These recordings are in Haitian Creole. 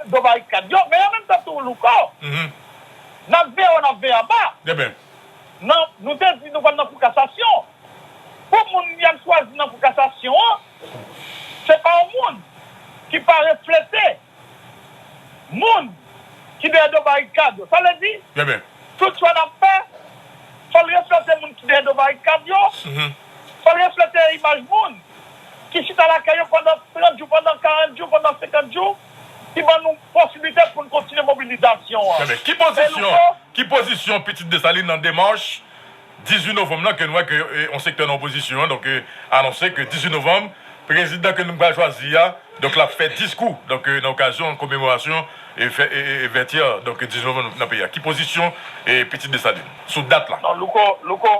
Gwo barikad yo, men an menm tan tou Louko, n ap veye wo, n ap veye anba. Nou te di nou pral nan kou kasasyon. Pou moun y al chwazi nan kou kasasyon an, se pa yon moun ki pa reflete moun ki dèyè do barikad yo. Sa vle di, tout chwa n ap fè, fò l reflete moun ki dèyè do barikad yo. Fò l reflete imaj moun ki chita lakay yo pandan 30 jou, pandan 40 jou, pandan 50 jou, ki ban nou posiblite pou n kontinye mobilizasyon an. Enben, ki pozisyon, ki pozisyon Pitit Desalin nan demach 18 novanm lan ke n wè ke yon sektè nan opozisyon an donk anonse ke 18 novanm prezidan ke nou pral chwazi a donk l ap fè diskou donk nan okazyon komemorasyon vètyè donk 18 novanm nan peyi a? Ki pozisyon Pitit Desalin sou dat la? Non, Louko, Louko.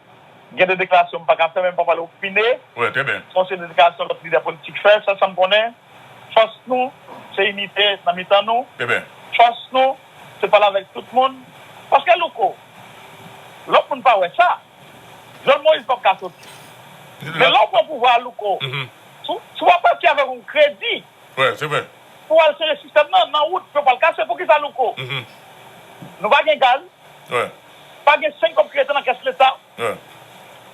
Gen de deklarasyon m pa ka fè men m pa pale opine son se deklarasyon lòt lidè politik fè sèl sa m konnen fòs nou se inite nan mitan nou fòs nou se pale avèk tout moun paske Louko lòt moun pa wè sa Jovnel Moïse pap ka soti men lè w pran pouvwa a Louko si w ap pati avèk yon kredi pou w al sere sistèm nan nan wout yo pral kase poukisa Louko nou pa gen gaz. Pa gen seny kòb kreyatè nan kès leta.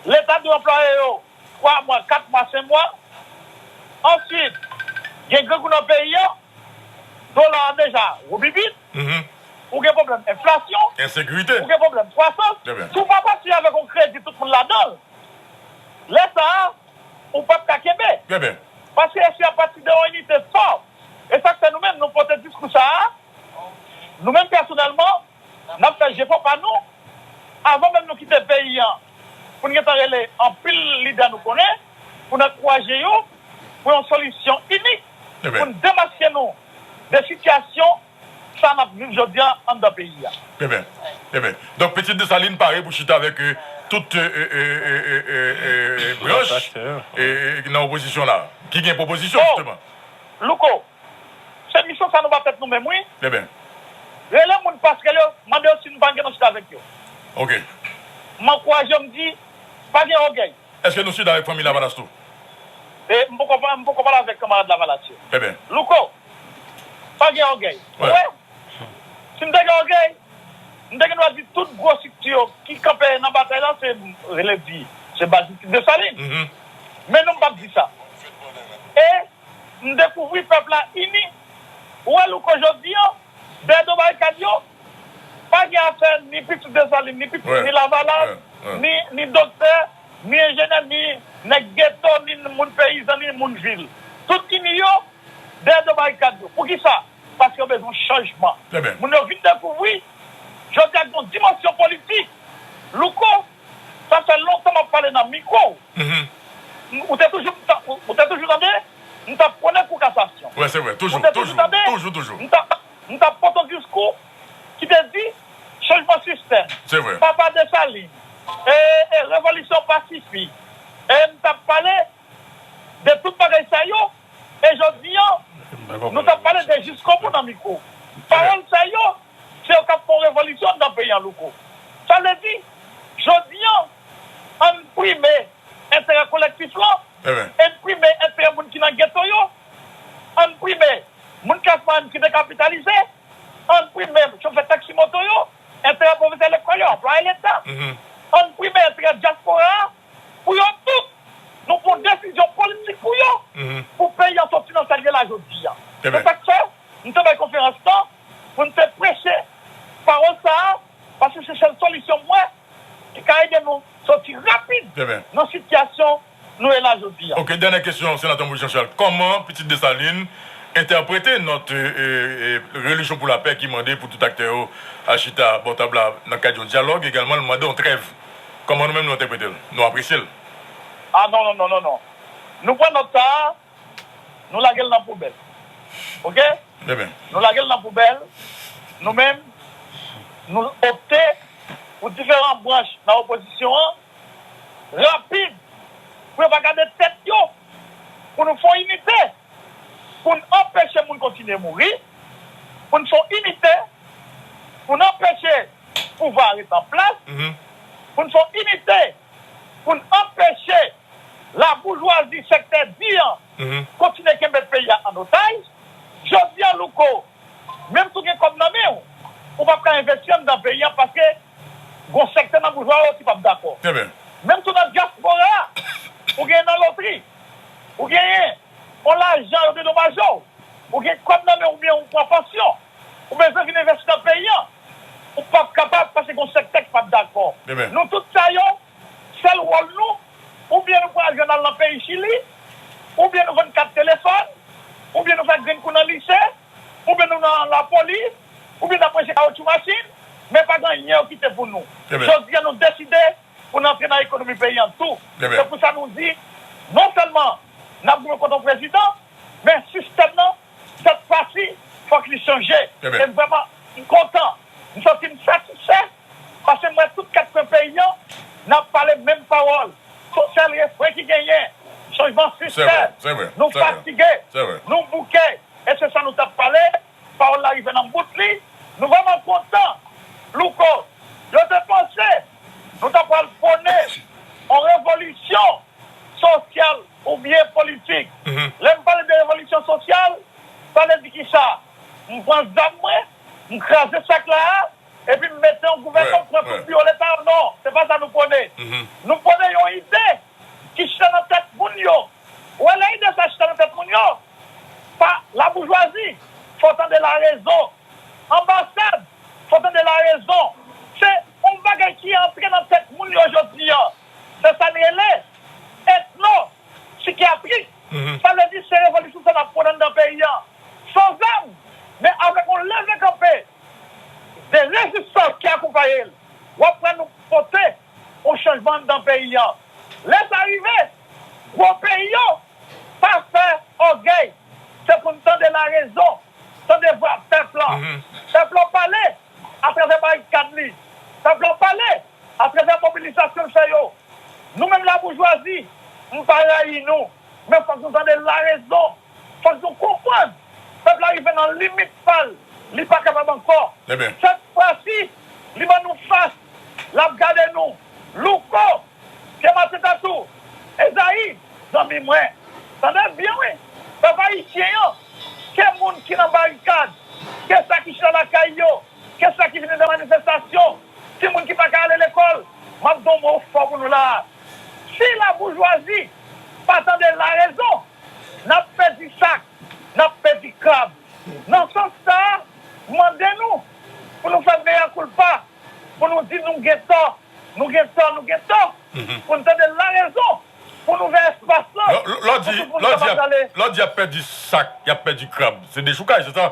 Leta dwe anplwaye yo twa mwa, kat mwa, sen mwa. Answit, gen grangou nan peyi an. Dola an deja woubibit. Ou gen pwoblèm enflasyon. Ensekirite. Ou gen pwoblèm kwasans. Si w pa pati avèk yon kredi tout moun ladan l, lè sa a, ou pap ka kenbe. Paske eske y ap pati de yon inite fò? E sa k fè nou menm nou pote diskou sa a, nou menm pèsonèlman. N ap fè jefò pa nou, avan menm nou kite peyi an, pou n gen tan rele anpil lidè nou konnen, pou n ankouraje yo pou yon solisyon inik, pou n demaske nou de sitiyasyon sa n ap viv jodi a anndan peyi a. Trèbyen. Trèbyen. Donk Petit Dessalines pare pou chita avèk tout branch nan opozisyon la, ki gen pwopozisyon jisteman. Oh! Louko, Se misyon sa nou pa fèt nou menm wi. Eben. Rele moun pasrèl yo mande yo si nou pa gen nou chita avèk yo. Ok. M ankouraje yo m di pa gen ògèy. Eske nou chita avèk fanmi lavalas tou? E m poko m poko pale avèk kanmarad lavalas yo. Eben. Louko, pa gen ògèy. Ou wè? Si m te gen ògèy, m te gen dwa di tout gwo strikti yo ki kanpe nan batay la se rele di se baz Misti Desalin. Men non m pap di sa. E. M dekouvri pèp la ini. Ou wè Louko jodi an, dèyè do barikad yo, pa gen afè ni pitit Desalin, ni pitit ni Lavalas, ni doktè, ni enjenè, ni nèg geto, ni moun peyizan, ni moun vil. Tout ini yo dèyè do barikad yo. Poukisa? Paske yo bezwen chanjman. Moun yo vin dekouvri jodi a gen yon dimansyon politik. Louko. Sa fè lontan map pale nan mikro ou. Ou te toujou ou te toujou tande m tap pwone kou kasasyon. Ou te toujou tande m tap m tap pot on diskou ki te di chanjman sistèm, papa Desalin, ee revolisyon pa sifi. Ee m tap pale de tout bagay sa yo e jodi an nou tap pale de jiskobou nan mikwo ou. Pawòl sa yo. Se yo kap fè yon revolisyon anndan peyi an Louko. Sa vle di, jodi an, ann prime enterè kolektif lan, ann prime enterè moun ki nan geto yo, ann prime moun klas mwayèn ki dekapitalize, ann prime chofè taksi moto yo, enterè pwofesè lekòl yo, anplwaye leta, ann prime enterè dyaspora a, pou yo tout, nou pran desizyon politik pou yo, pou peyi an sòti nan sa l ye la jodi an. Se sa k fè, m te bay konferans lan. pou n te preche pawòl sa a, paske se sèl solisyon m wè ki ka ede nou soti rapid nan sitiyasyon nou ye la jodi a. Ok, dènyè kesyon Senatè Moise Jean Charles, kòman Pitit Desalin entèprete nòt Religion pour la Paix ki mande pou tout aktè yo al chita bò tab la nan kad yon dyalòg, egalman l mande yon trèv. Kòman nou menm nou entèprete l? Nou apresye l? Ah non non non non non. Nou pran nòt sa a. Nou lage l nan poubèl ok Nou lage l nan poubèl Nou menm nou opte pou diferan branch nan opozisyon an rapid pou yo pa gade tèt yo pou nou fon inite pou n anpeche moun kontinye mouri pou n fon inite pou n anpeche pouvwa a ret an plas pou n fon inite pou n anpeche. Laboujwazi sektè di an kontinye kenbe peyi a an otaj. Jodi a Louko, menm si w gen kòb nan men w, ou pap ka envesti anndan peyi a paske gon sektè nan boujwa yo ki pap dakò. Menm tou nan dyaspora a, ou genyen nan lotri, ou genyen on lajan yo dedomaje w, ou gen kòb nan men w oubyen ou pran pansyon, ou bezwen vin envesti nan peyi a, ou pap kapab paske gon sektè ki pap dakò. Nou tout sa yo, Sèl wòl nou, oubyen nou pral jwenn al nan peyi Chili, oubyen nou vann kat telefòn, oubyen nou fè grenn kou nan lise, oubyen nou nan lapolis, oubyen n ap preche kawotchou machin, men pa gen anyen yo kite pou nou. Jodi a nou deside pou n antre nan ekonomi peyi an tou. Se pou sa nou di, non sèlman n ap goumen kont yon prezidan, men sistèm nan, sèt fwa si, fòk li chanje. E m vrèman, m kontan, m santi m satisfè. Pase m wè tout kat kwen peyi an nan pale menm pawòl son sèl refren ki genyen chanjman sistèm nou fatige nou bouke e se sa nou tap pale pawòl la rive nan bout li nou vrèman kontan Louko yo te panse nou ta pral pwone on revolisyon sosyal oubyen politik lè m pale de revolisyon sosyal sa vle di kisa m pran zam mwen m kraze sak la a. Epi m mete yon gouvènman m pran tout biwo leta yo non se pa sa nou pwone nou pwone yon ide ki chita nan tèt moun yo ou wè lè ide sa chita nan tèt moun yo pa laboujwazi fò w tande larezon anbasad fò w tande larezon se yon bagay ki antre nan tèt moun yo jodi an se sa n rele etno sikyatrik sa vle di se revolisyon sa n ap pwone anndan peyi an san zam men avèk yon leve kanpe. Se rezistans ki akonpaye l. W ap wè nou pote yon chanjman anndan peyi an. Lè sa rive, gwo peyi yo pa fè ògèy. Se pou n tande larezon, tande vwa pèp lan. Pèp lan pale atravè barikad li. Pèp lan pale atravè mobilizasyon l fè yo. Nou menm laboujwazi, m pa rayi nou, men fòk nou tande larezon. Fòk nou konprann pèp la rive nan limit pa l, li pa kapab ankò. Sèt fwa si li ban nou fas, l ap gade nou. Louko, Pye Maten Tatou, Ezayi, zanmi mwen, tande l byen wi, pèp ayisyen an, ke moun ki nan barikad, ke sa ki chita lakay yo, ke sa ki vini nan manifestasyon, timoun ki pa ka ale lekòl, m ap di yon mo fò pou nou la a. Si laboujwazi pa tande larezon. N ap pèdi sak, n ap pèdi krab. Nan sans sa a, m mande nou pou nou fè mea culpa, pou nou di nou gen tò, nou gen tò, nou gen tò, pou n tande larezon, pou n ouvè espas lan pou tout moun kapab prale. Lè w di y ap pèdi sak, y ap pèdi krab, se dechoukay, se sa?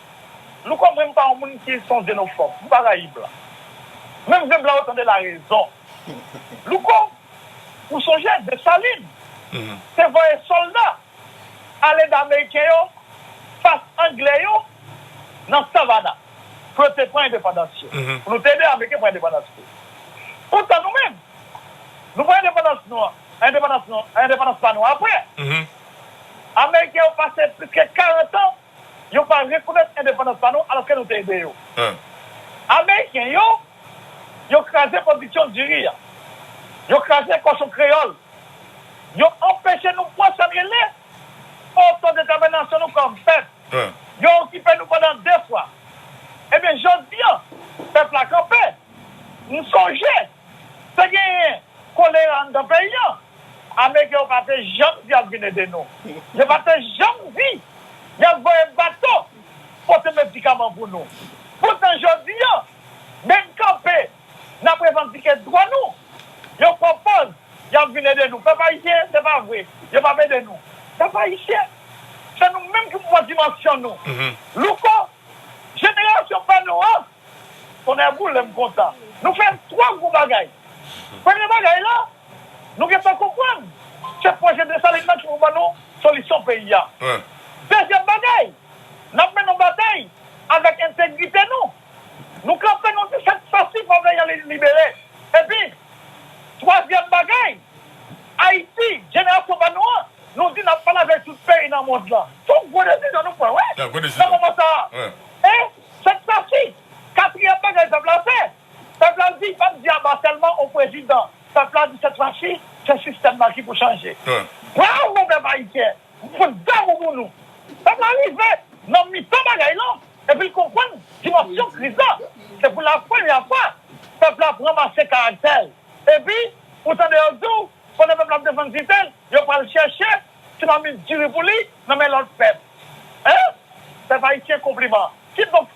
Louko mwen m pa yon moun ki son zenofòb m pa rayi blan menm vre blan yo tande la rezon Louko ou sonje Desalin te voye sòlda ale da ameriken yo fas angle yo nan savana pou yo te pran endepandans yo pou nou te ede ameriken pran endepandans yo poutan nou menm nou pran endepandans nou an endepandans nou endepandans pa nou aprè ameriken yo pase plis ke 40 ans. yo pa rekonèt endepandans pa nou alòske nou te ede yo. Ameriken yo, yo kraze pwodiksyon diri a. Yo kraze kòchon kreyòl. Yo anpeche nou pran sa n rele otodetèminasyon nou kòm pèp. Yo okipe nou pandan de fwa. Ebyen, jodi a, pèp la kanpe. M sonje. Te genyen kolera anndan peyi an, ameriken yo pa te janm di y ap vin ede nou. Yo pa te janm di y ap voye bato pote medikaman pou nou. Poutan jodi an, menm kanpe n ap revandike dwa nou, yo pwopoz y ap vin ede nou. Pèp ayisyen, se pa vre yo pa p ede nou. Pèp ayisyen, se nou menm ki pou pran dimansyon nou. Louko, Jenerasyon pa nou an! Tonnè boule m kontan. Nou fè twò gwo bagay. Premye bagay la, nou gentan konprann se pwojè Desalin nan ki pou ban nou solisyon peyi a. Dezyèm bagay, n ap mennen yon batay avèk entegrite nou. Nou kanpe nou di sèt sa si pèp la y ale libere. Epi, twazyèm bagay, Ayiti, jenerasyon pa nou an, Nou di nap pale avèk tout peyi nan mond lan. Son gwo desizyon nou pran wi nan moman sa a. E sèk sa si. Katriyèm bagay pèp la fè. Pèp la di pap di aba sèlman o prezidan. Pèp la di sèt fwa si se sistèm nan ki pou chanje. Bravo pèp ayisyen. M konn damou pou nou. Pèp la rive nan mitan bagay lan epi l konprann dimansyon kriz la. Se pou la premyè fwa pèp la pran mase karaktè l. Epi ou tande yo di w. Pandan pèp la ap desann titè l, yo pral chèche ti mamit diri pou li nan men lòt pèp. Hein? Pèp ayisyen konpliman. Kidonk,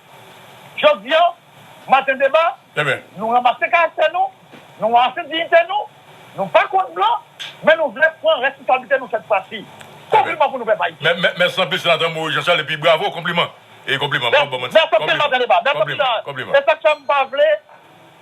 jodi an, maten deba, nou ranmase karaktè nou, nou ranmase diyite nou, nou pa kont blan, men nou vle pran responsablite nou sèt fwa si. Konpliman pou nou pèp ayisyen. Mèsi anpil Senatè Moïse Jean Charles epi bravo, konpliman. Mèsi anpil maten deba. Mèsi anpil. E sak fè m pa vle.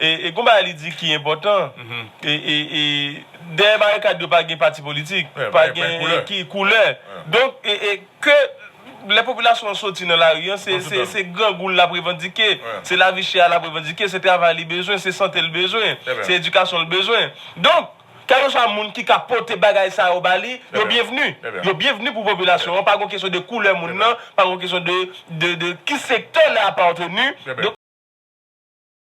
E gon bagay li di ki enpòtan, dèyè barikad yo pa gen pati politik, pa gen koulè. Donk, ke lè popilasyon an soti nan lari an, se grangou l ap revandike, se lavi chè a l ap revandike, se travay li bezwen, se sante l bezwen, se edikasyon l bezwen. Donk, kèlkeswa moun ki ka pote bagay sa yo ba li, yo byenvni. Yo byenvni pou popilasyon an. Pa gon kesyon de koulè moun nan, pa gon kesyon de ki sektè l apateni.